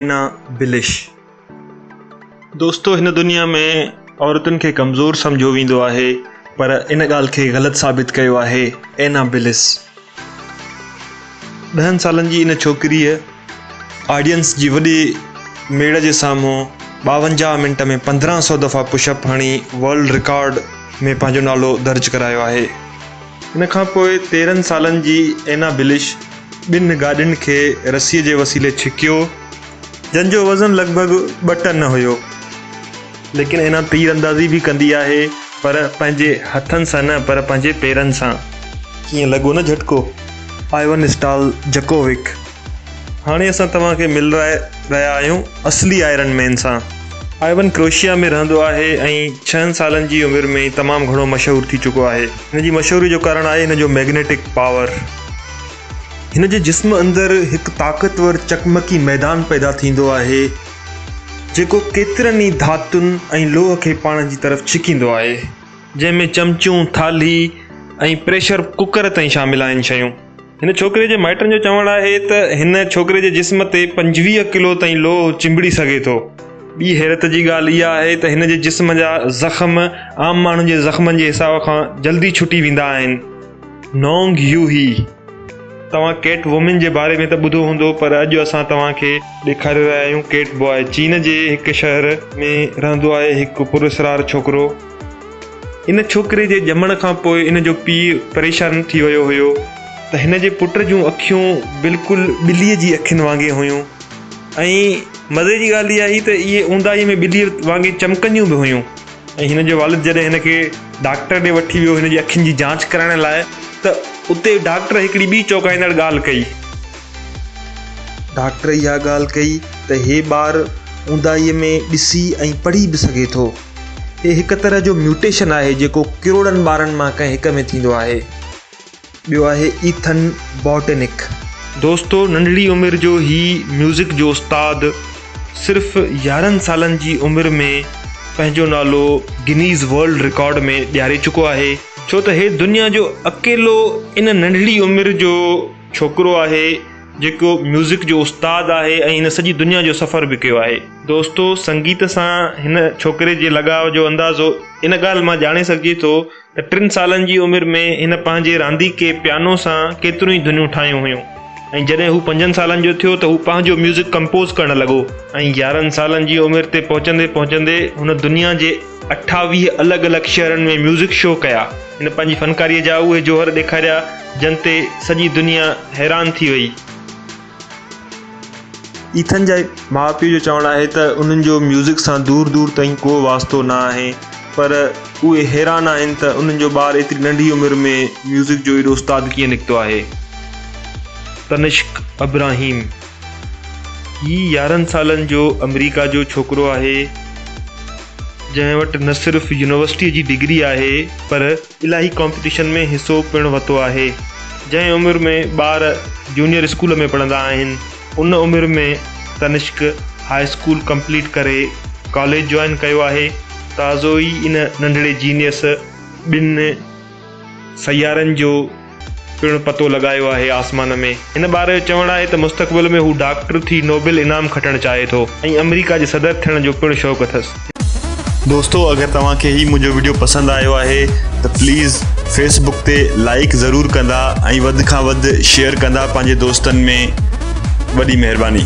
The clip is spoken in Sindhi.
اينا بلش دوستو هن دنيا ۾ عورتن کي ڪمزور سمجهيو ويندو آهي پر ان ڳالهه کي غلط ثابت ڪيو آهي اينا بلس ڏهن سالن جي ان ڇوڪريء آڊينس جي وڏي ميڙ جي سامهون ٻاونجاهه منٽ ۾ پندرهن سؤ دفعا پش اپ هڻي ورلڊ رڪارڊ ۾ پنهنجو نالو درج ڪرايو آهي. ان کان پوء تيرهن سالن جي اينا بلش ٻن گاڏين کي رسيء جي وسيلي ڇڪيو. جن جو وزن لڳ ڀڳ ٻه ٽن هيو. ليڪن اينا تير اندازي به ڪندي آهي پر پنهنجي هٿن سان نه پر پنهنجي پيرن سان. ڪيئن لڳو نه جهٽڪو؟ آئيون اسٽال جڪووڪ هاڻي اسان توهان کي ملرائي رهيا آهيون اصلي آئرن مين سان. آئيون ڪروشيا ۾ رهندو آهي ۽ ڇهن سالن جي عمر ۾ ئي تمام گهڻو مشهور ٿي چڪو آهي. هن جي مشهوري جو ڪارڻ آهي هن جو ميگنيٽڪ پاور. هن جي جسم اندر هڪ طاقتور چقمقي ميدان پيدا ٿيندو آهي، جيڪو ڪيترن ئي ڌاتن ۽ لوهه کي پاڻ جي طرف ڇڪيندو آهي، جنهن ۾ چمچون، ٿالهي ۽ پريشر ڪڪر تائين شامل آهن شيون. هن ڇوڪري جي مائٽن جو چوڻ آهي ته هن ڇوڪري جي جسم تي پنجويهه ڪلو تائين لوهه چنبڙي سگهي ٿو. ٻي حيرت جي ڳالهه اها آهي ته هن جي جسم جا زخم عام ماڻهن جي زخمن جي حساب کان جلدي ڇٽي ويندا آهن. نونگ يو هي، توهان ڪيٽ وومين جي باري ۾ ته ٻڌو هوندو پر اڄ اسان توهان کي ڏيکاري رهيا آهيون ڪيٽ باء. چين جي هڪ شهر ۾ رهندو آهي هڪ پراسرار ڇوڪرو. ان ڇوڪري جي ڄمڻ کان پوء ان جو پيء پريشان ٿي ويو هيو ته هن جي پٽ جون اکيون بلڪل ٻليء جي اکين وانگي هيون ۽ مزي جي ڳالهه اها هئي ته اهي اونداهي ۾ ٻليء وانگي چمڪنديون به هيون. ۽ هن جو والد جڏهن هن کي ڊاڪٽر ڏي وٺي ويو هن جي اکين جي جاچ ڪرائڻ لاء ته اتي ڊاڪٽر هڪڙي ٻي چونڪائيندڙ ڳالهه ڪئي. ڊاڪٽر اها ڳالهه ڪئي ته هي ٻار اونداهيء ۾ ڏسي ۽ پڙهي به سگهي ٿو. هي هڪ طرح جو ميوٽيشن آهي جيڪو ڪروڙن ٻارن مان ڪنهن هڪ ۾ ٿيندو آهي. ٻيو آهي ايٿن بوٽنڪ. دوستو ننڍڙي عمر جو هي ميوزڪ جو استاد صرف يارهن سالن جي عمر ۾ پنهنجو نالو گنيز ورلڊ رڪارڊ ۾ ڏياري چڪو آهي، ڇو ته هي دنيا جو اڪيلو ان ننڍڙي عمر جو ڇوڪرو آهي جيڪو ميوزڪ جو استاد آهي ۽ هن سڄي دنيا جو سفر به ڪيو آهي. دوستو سنگيت سان هن ڇوڪري جي لڳاء جو اندازو ان ڳالهه مان ڄاڻي سگهجي ٿو ٽن سالن جي عمر ۾ هن پنهنجي رانديڪي پيانو سان ڪيتريون ئي ڌنيون ٺاهيون هيون ۽ جڏهن هو پنجن سالن جو ٿيو ته هو پنهنجو ميوزڪ ڪمپوز ڪرڻ لڳو ۽ يارهن سالن جي عمر تي پهچندي پهچندي هن دنيا جي اٺاويهه الڳ الڳ شهرن ۾ ميوزڪ شو ڪيا هن پنهنجي فنڪاري جا اهي جوهر ڏيکاريا جن تي سڄي دنيا حيران ٿي وئي. ايٿن جي ماء پيء جو چوڻ آهي ته انهن جو ميوزڪ سان دور دور تائين ڪو واسطو نه آهي پر اهي حيران آهن ته انهن جو ٻار ايتري ننڍي عمر ۾ ميوزڪ جو ايڏو استاد ڪيئن نڪتو آهي تنشڪ ابراهيم هي يارهن سالن جو آمريڪا جو ڇوڪرو آهي جنهن وٽ نه صرف يونيورسٽي جي ڊگري آهي پر الاهي ڪامپيٽيشن ۾ حصو پڻ ورتو آهي. جنهن عمر ۾ ٻار جونيئر اسڪول ۾ پڙهندا آهن ان عمر ۾ تنشڪ هاء اسڪول ڪمپليٽ ڪري ڪاليج جوائن ڪيو آهي. تازو ئي ان ننڍڙي جينيئس ٻن سيارن جو پڻ پتو لڳايو آهي آسمان ۾. هن ٻار جو چوڻ آهي ته مستقبل ۾ هو ڊاڪٽر ٿي نوبل انعام کٽڻ چاهي ٿو ۽ آمريڪا جي صدر ٿيڻ جو پڻ شوق اٿس. دوستو اگر توهان کي هي منهنجو وڊيو پسند آيو آهي ته پليز فيس بڪ تي لائيڪ ضرور ڪندا ۽ وڌ کان وڌ شيئر ڪندا پنهنجي دوستن ۾ وڏي مهرباني.